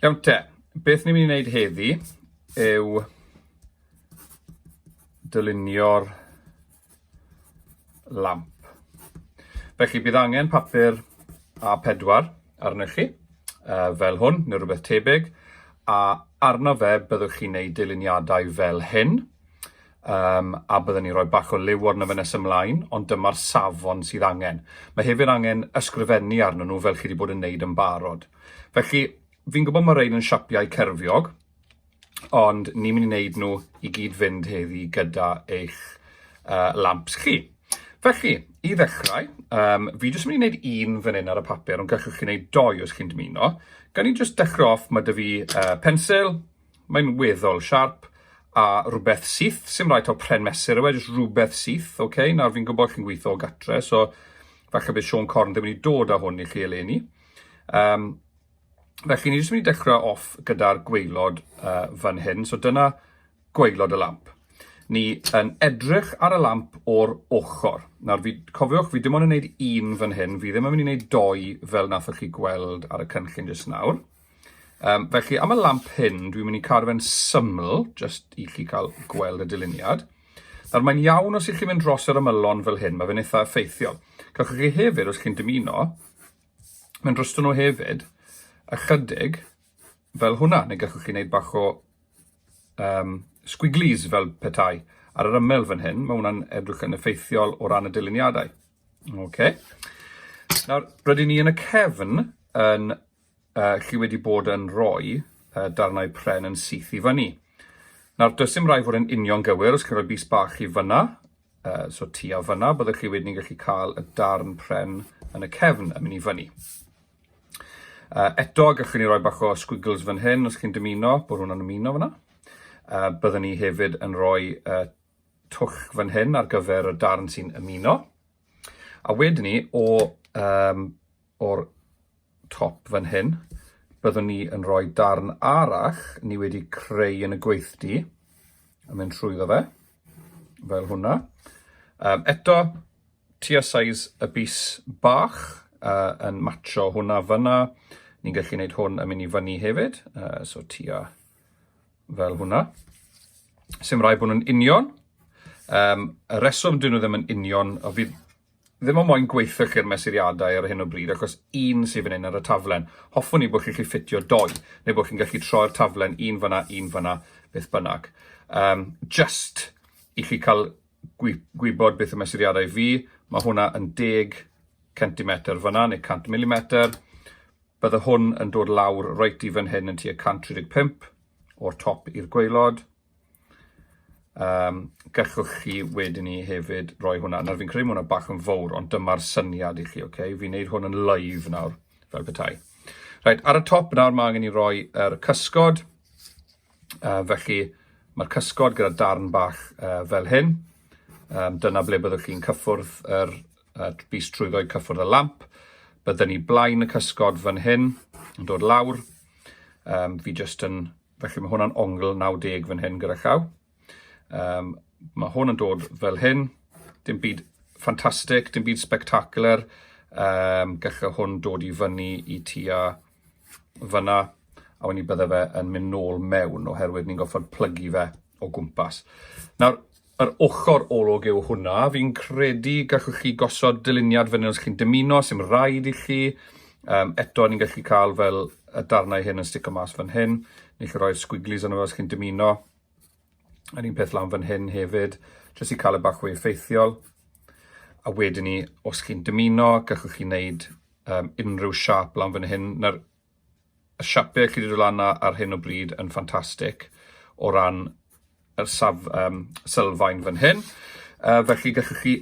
Iawn te, beth ni'n mynd i wneud heddi yw dylunio'r lamp. Felly bydd angen papur A4 arnoch chi, uh, fel hwn, neu rhywbeth tebyg, a arno fe byddwch chi'n neud dyluniadau fel hyn. um, a byddwn ni'n rhoi bach o liw arno fe nes ymlaen, ond dyma'r safon sydd angen. Mae hefyd angen ysgrifennu arnyn nhw fel chi wedi bod yn neud yn barod. Felly, fi'n gwybod mae rhain yn siapiau cerfiog, ond ni'n mynd i wneud nhw i gyd fynd heddi gyda eich uh, lamps chi. Felly, i ddechrau, um, fi jyst yn mynd i wneud un fan hyn ar y papur, ond gallwch chi wneud doi os chi'n dymuno. Gan i jyst dechrau off, mae dy fi uh, pensil, Mae'n weddol siarp a rhywbeth syth, sy'n rhaid o pren mesur yw e, jyst rhywbeth syth, oce? Okay? Nawr fi'n gwybod chi'n gweithio o gatre, so falle bydd Sean Corn ddim wedi dod â hwn i chi eleni. Um, felly ni jyst mynd i dechrau off gyda'r gweilod uh, fan hyn, so dyna gweilod y lamp. Ni yn edrych ar y lamp o'r ochr. Nawr, fi, cofiwch, fi dim ond yn gwneud un fan hyn, fi ddim yn mynd i wneud doi fel nathoch chi gweld ar y cynllun jyst nawr. Um, felly, am y lamp hyn, dwi'n mynd i cadw fe'n syml, jyst i chi cael gweld y dyluniad. Nawr, mae'n iawn os ych chi'n mynd dros yr ymylon fel hyn, mae fe'n eitha effeithiol. Gallwch chi hefyd, os chi'n dymuno, mae'n drosto nhw hefyd, ychydig, fel hwnna, neu gallwch chi wneud bach o um, squiglies fel petai ar yr ymyl fan hyn. Mae hwnna'n edrych yn effeithiol o ran y dyluniadau. Okay. Nawr, rydyn ni yn y cefn yn uh, chi wedi bod yn rhoi uh, darnau pren yn syth i fyny. Nawr, does dim rhaid fod yn union gywir, os chi'n rhoi bus bach i fyna, uh, so ti a fyna, byddwch chi wedyn yn gallu cael y darn pren yn y cefn yn mynd i fyny. Uh, eto, gallwn ni roi bach o squiggles fan hyn, os chi'n dymuno, bod hwnna'n ymuno fyna. Uh, byddwn ni hefyd yn rhoi uh, twch fan hyn ar gyfer y darn sy'n ymuno. A wedyn ni, o um, o'r top fan hyn, byddwn ni yn rhoi darn arall ni wedi creu yn y gweithdy, yn mynd trwyddo fe, fel hwnna. Um, eto, tua size y bus bach uh, yn matcho hwnna fyna. Ni'n gallu gwneud hwn yn mynd i fyny hefyd, uh, so tua fel hwnna. Sym rai bod nhw'n union. Um, y reswm dyn nhw ddim yn union, o fydd ddim ond moyn gweithio chi'r mesuriadau ar hyn o bryd, achos un sydd fan hyn ar y taflen. Hoffwn i bod chi'n gallu ffitio doi, neu bod chi'n gallu troi'r taflen un fanna, un fanna, beth bynnag. Um, just i chi cael gwybod beth y mesuriadau fi, mae hwnna yn deg centimetr fyna, neu 100 milimetr. Bydde hwn yn dod lawr reit i fan hyn yn tua 135 o'r top i'r gweilod. Um, gallwch chi wedyn ni hefyd roi hwnna. Nawr fi'n credu hwnna bach yn fawr, ond dyma'r syniad i chi, oce? Okay? Fi'n neud hwn yn live nawr, fel bethau. Right, ar y top nawr mae angen i roi yr er cysgod. Uh, felly mae'r cysgod gyda darn bach uh, fel hyn. Um, dyna ble byddwch chi'n cyffwrdd yr er, bus trwyddo cyffwrdd y lamp. Byddwn ni blaen y cysgod fan hyn yn dod lawr. Um, fi jyst yn Felly mae hwnna'n ongl 90 fan hyn gyda llaw. Um, mae hwn yn dod fel hyn, dim byd ffantastig, dim byd spectacular, um, gallai hwn dod i fyny i tua fyna, a wedyn ni bydde fe yn mynd nôl mewn, oherwydd ni'n goffo'r plygu fe o gwmpas. Nawr, Yr ochr olwg yw hwnna. Fi'n credu gallwch chi gosod dyluniad fyny os chi'n dymuno, sy'm rhaid i chi. Um, eto, ni'n gallu cael fel y darnau hyn yn stico mas fan hyn. Ni'n gallu rhoi'r squigglies yna os chi'n dymuno. Yr un peth lan fan hyn hefyd, jyst i cael y e bach fwy effeithiol. A wedyn ni, os chi'n dymuno, gallwch chi wneud um, unrhyw siap lan fan hyn. Na'r y siapie chi wedi dod lan ar hyn o bryd yn ffantastig o ran yr saf, um, sylfaen fan hyn. Uh, felly gallwch chi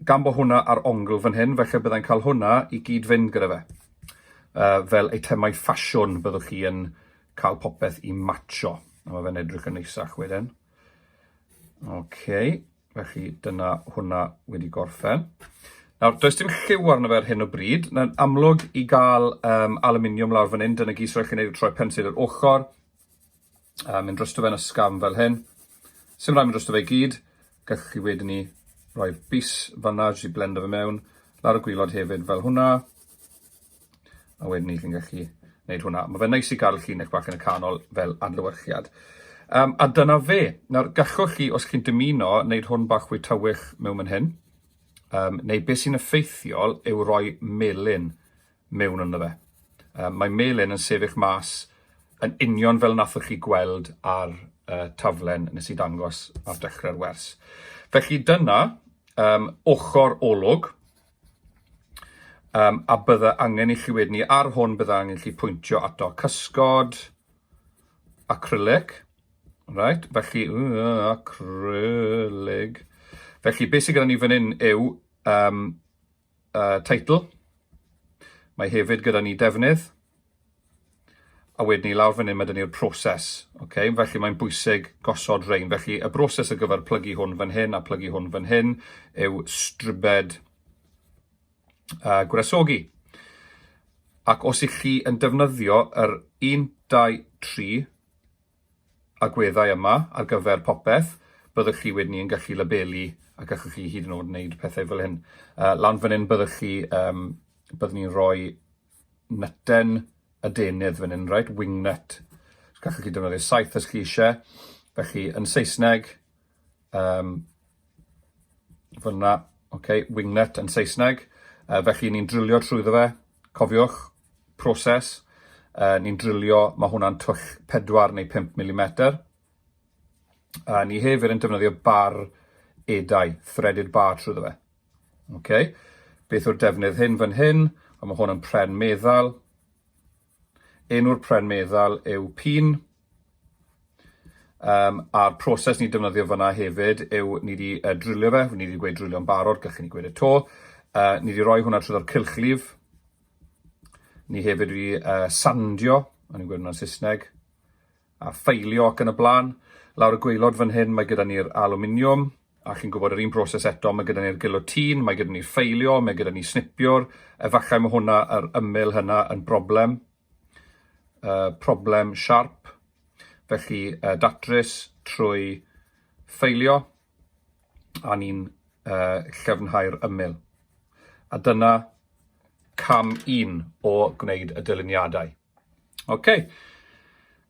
gan bod hwnna ar ongl fan hyn, felly byddai'n cael hwnna i gyd fynd gyda fe. Uh, fel eitemau ffasiwn byddwch chi yn cael popeth i matcho. A mae fe'n edrych yn neisach wedyn. OK, Felly dyna hwnna wedi gorffen. Nawr, does dim lliw arno fe ar hyn o bryd. Na'n amlwg i gael um, aluminium lawr fan hyn, dyna gys rhaid chi wneud y troi pensil i'r ochr, a mynd drosto fe'n ysgafn fel hyn. Sym rhaid mynd drosto fe i gyd, gallwch chi wedyn ni roi'r bus fanna, jyst i blendo fe mewn, lawr y gwylod hefyd fel hwnna. A wedyn ni chi'n gallu gwneud hwnna. Mae fe'n neis i gael llinell bach yn y canol fel adlewyrchiad. Um, a dyna fe. Nawr, gallwch chi, os chi'n dymuno, wneud hwn bach fwy tywych mewn mynd hyn, um, neu beth sy'n effeithiol yw roi melin mewn ynddo fe. Um, mae melin yn sefyll mas yn union fel nathoch chi gweld ar uh, taflen nes i dangos ar dechrau'r wers. Felly dyna um, ochr olwg, Um, a bydda angen i chi wedyn ni, ar hwn bydda angen i chi pwyntio ato cysgod, acrylic, right, felly, uh, acrylig, felly beth sydd gyda ni fan hyn yw um, uh, title, mae hefyd gyda ni defnydd, A wedyn ni lawr fan hyn, mae dyn ni'r proses. Okay? Felly mae'n bwysig gosod rhain. Felly y broses ar gyfer plygu hwn fan hyn a plygu hwn fan hyn yw stribed uh, gwresogi. Ac os ych chi yn defnyddio yr 1, 2, 3 agweddau yma ar gyfer popeth, byddwch chi wedyn ni'n gallu labelu a gallwch chi hyd yn oed wneud pethau fel hyn. Uh, lan fan hyn byddwch chi, um, byddwn ni'n rhoi nytten y denydd fan hyn, reit, wing nut. Gallwch chi defnyddio saeth os chi eisiau. Felly, yn Saesneg, um, fyna, okay, wing nut yn Saesneg. Uh, felly, ni'n drilio trwyddo fe. Cofiwch, proses. Uh, ni'n drilio, mae hwnna'n twll 4 neu 5 mm. A ni hefyd yn defnyddio bar edau, threaded bar trwyddo fe. Ok, beth yw'r defnydd hyn fan hyn? Ond mae hwn yn pren meddal. Enw'r pren meddal yw pin. Um, a'r proses ni'n defnyddio fyna hefyd yw ni wedi uh, drilio fe, ni wedi gweud drilio'n barod, gallwn ni gweud y to. Uh, ni wedi rhoi hwnna trwy'r cylchlif. Ni hefyd wedi uh, sandio, o'n i'n gweud hwnna'n Saesneg. a ffeilio ac yn y blaen. Lawr y gwaelod fan hyn mae gyda ni'r alwminiwm a chi'n gwybod yr un broses eto, mae gyda ni'r gilotîn, mae gyda ni ffeilio, mae gyda ni snipiwr, efallai mae hwnna yr ymyl hynna yn broblem, uh, problem sharp, felly uh, datrys trwy ffeilio a ni'n uh, llefnhau'r ymyl. A dyna cam un o gwneud y dyluniadau. OK.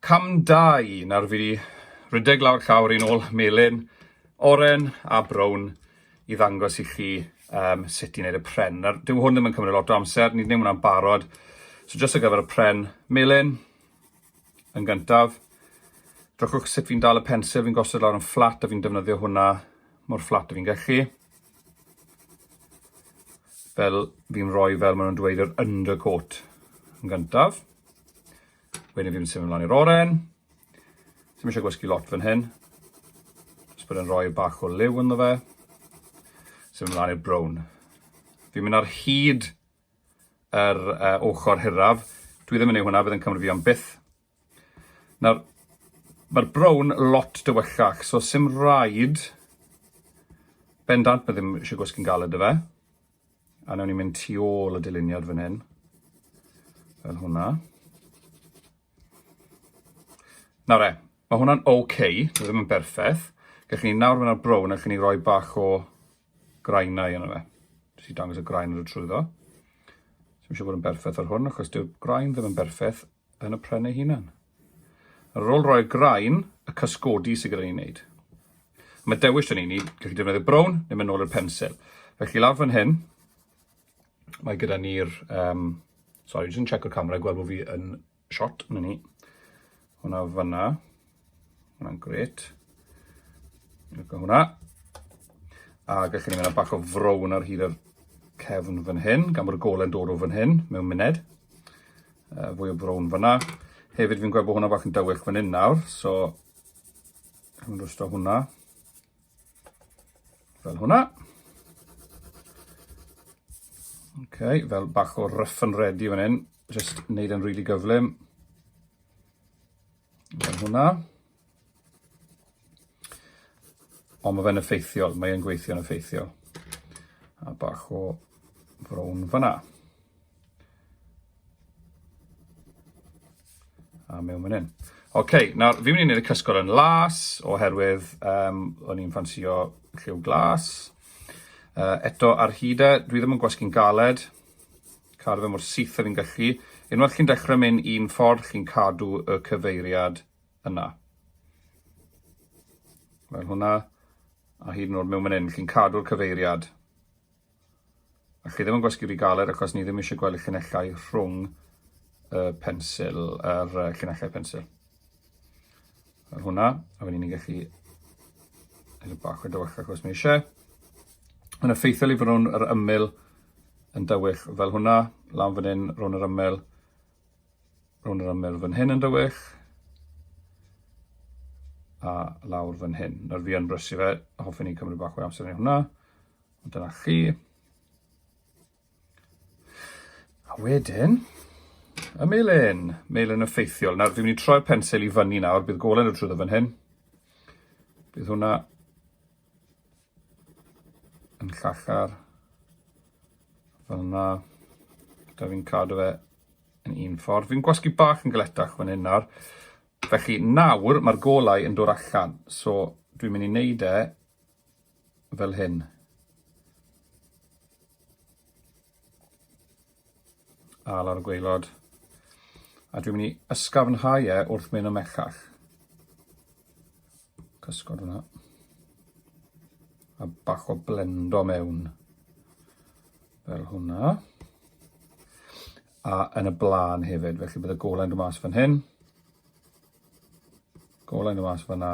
Cam 2. Nawr fi rhedeg lawr llawr i'n ôl melyn, oren a brown i ddangos i chi um, sut i wneud y pren. Nawr, dyw hwn ddim yn cymryd lot o amser, ni'n ddim hwnna'n barod. So jyst ar gyfer y pren melyn, yn gyntaf, Drychwch sut fi'n dal y pensel, fi'n gosod lawr yn fflat a fi'n defnyddio hwnna mor fflat a fi'n gallu. Fel fi'n rhoi fel maen nhw'n dweud yr undercoat yn gyntaf. Wedyn fi'n symud ymlaen i'r oren. Ddim eisiau gwasgu lot fan hyn. Jyst bod yn rhoi bach o liw ynddo fe. Symud ymlaen i'r brown. Fi'n mynd ar hyd yr uh, ochr hiraf. Dwi ddim yn ei hwnna, bydd yn cymryd fi am byth. Nawr, mae'r brown lot dywellach, so sy'n rhaid bendant, mae ddim eisiau gwasgu'n galed y fe. A newn ni mynd tu ôl y dyluniad fan hyn, fel hwnna. Nawr e, mae hwnna'n oce, okay, mae ddim yn berffaith. Gallwn ni nawr fyna'r brown, allwn ni roi bach o graenau yna fe. Jyst i dangos y graen yn y trwyddo. Ddim eisiau bod yn berffaith ar hwn, achos dyw'r graen ddim yn berffaith yn y pren ei hunan. Ar ôl roi'r graen, y cysgodi sydd gyda ni'n wneud. Mae dewis yn un i, gallu defnyddio brown neu mynd nôl i'r pensil. Felly lawr fan hyn, mae gyda ni'r, um, sorry, jyst yn checko'r camera, gweld bod fi yn shot, na ni. Hwna fanna, Hwna'n gret. Look at hwnna. A gallwn ni mynd â bach o frown ar hyd yr cefn fan hyn, gan bod y gole'n dod o fan hyn, mewn muned. Uh, fwy o frown fanna. Hefyd fi'n gweld bod hwnna bach yn dywyll fan hyn nawr, so... Hwna'n rwysto hwnna. Fel hwnna. Okay, fel bach o rough and ready fan hyn. Just wneud yn really gyflym. Fel hwnna. Ond mae fe'n effeithiol, mae'n gweithio'n effeithiol. A bach o frown fyna. A mewn fan hyn. Oce, okay, nawr, fi'n mynd i wneud y cysgod yn las, oherwydd um, o'n i'n ffansio lliw glas. Uh, eto, ar hyd e, dwi ddim yn gwasgu'n galed, Cadw fe mor syth a fi'n gallu. Unwaith chi'n dechrau mynd un ffordd, chi'n cadw y cyfeiriad yna. Fel hwnna, a hyd yn oed mewn mynd chi'n cadw'r cyfeiriad. A chi ddim yn gwasgu rhy galed achos ni ddim eisiau gweld y llinellau rhwng y pensil, yr llinellau pensil. Ar hwnna, a wedyn ni'n gallu edrych bach o dywyll ac os mae eisiau. Mae'n effeithiol i fod nhw'n yr ymyl yn dywyll fel hwnna, lan fan hyn, rhwng yr ymyl, rhwng yr ymyl fan hyn yn dywyll, a lawr fan hyn. Nawr fi yn brysu fe, hoffwn i cymryd bach o amser yn hwnna, ond dyna chi. A wedyn, y melyn, melyn effeithiol. Nawr, fi'n mynd i troi'r pensil i fyny nawr, bydd golen y trwyddo fan hyn. Bydd hwnna yn llachar fel yna. Da fi'n cadw fe yn un ffordd. Fi'n gwasgu bach yn galetach fan hyn nawr. Felly nawr mae'r golau yn dod allan. So dwi'n mynd i wneud e fel hyn. A lawr y gweilod. A dwi'n mynd i ysgafnhau e wrth mynd ymellach. Cysgod hwnna. A bach o blendo mewn. Fel hwnna. a yn y blaen hefyd. Felly bydd y golau'n dod mas fan hyn, golau'n dod mas fanna,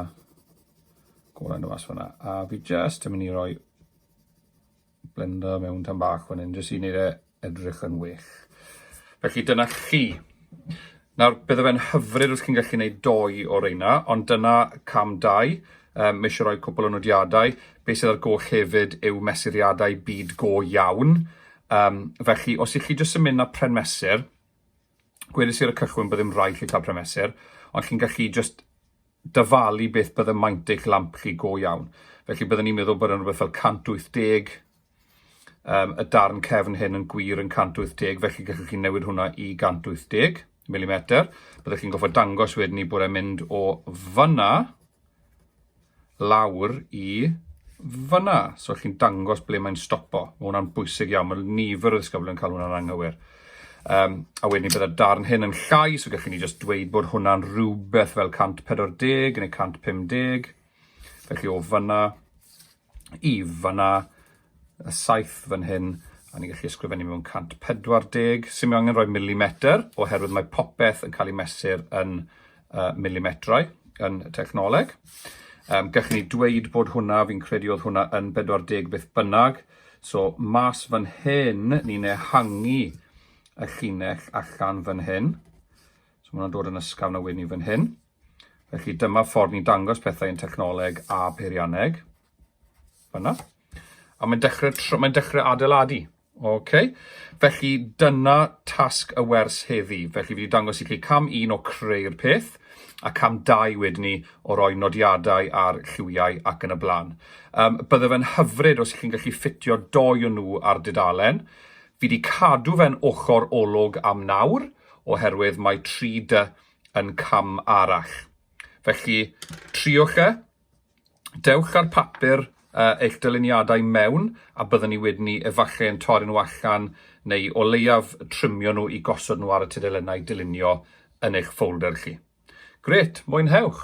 golau'n dod mas fanna. A fi just yn mynd i roi blender mewn tan bach fan hyn, jyst i wneud e edrych yn well. Felly dyna chi. Nawr, bydde fe'n hyfryd os chi'n gallu gwneud doi o reina, ond dyna cam dau. Um, mae eisiau rhoi cwpl o nodiadau. Be sydd ar goll hefyd yw mesuriadau byd go iawn. Um, felly, os ych chi jyst yn mynd na pren mesur, gwedais i ar y cychwyn bod ddim rhaid chi cael pren mesur, ond chi'n gallu jyst dyfalu beth bydd y maint eich lamp chi go iawn. Felly byddwn ni'n meddwl bod yn rhywbeth fel 180, um, y darn cefn hyn yn gwir yn 180, felly gallwch chi newid hwnna i 180 mm. Byddwch chi'n goffa dangos wedyn ni bod e'n mynd o fyna lawr i fyna. So chi'n dangos ble mae'n stopo. Mae hwnna'n bwysig iawn. Mae nifer o ddisgyblion yn cael hwnna'n anghywir. Um, a wedyn ni byddai'r darn hyn yn llai, so gallwn ni just dweud bod hwnna'n rhywbeth fel 140 neu 150. Felly o fyna, i fanna, y saith fan hyn, a ni'n gallu ysgrifennu mewn 140, sy'n mynd angen rhoi milimetr, oherwydd mae popeth yn cael ei mesur yn uh, milimetrau yn y technoleg. Um, gallwn ni dweud bod hwnna, fi'n credu oedd hwnna yn 40 beth bynnag, so mas fan hyn, ni'n ehangu y llinell allan fan hyn, so mae hwnna'n dod yn ysgafn a wedyn ni fan hyn. Felly dyma ffordd ni'n dangos pethau yn technoleg a peirianneg. Fyna. A mae'n dechrau, mae'n dechrau adeiladu. Okay. Felly dyna tasg y wers heddi. Felly fi wedi dangos i chi cam un o creu'r peth a cam dau wedyn ni o roi nodiadau ar lliwiau ac yn y blaen. Um, bydde fe'n hyfryd os chi'n gallu ffitio doi o nhw ar dudalen. Fi wedi cadw fe'n ochr olwg am nawr, oherwydd mae 3D yn cam arall. Felly, triwch e, dewch â'r papur uh, eich dyluniadau mewn a byddwn ni wedyn ni efallai yn torri nhw allan neu o leiaf trimio nhw i gosod nhw ar y tudalennau dylunio yn eich ffolder chi. Gret, mwynhewch!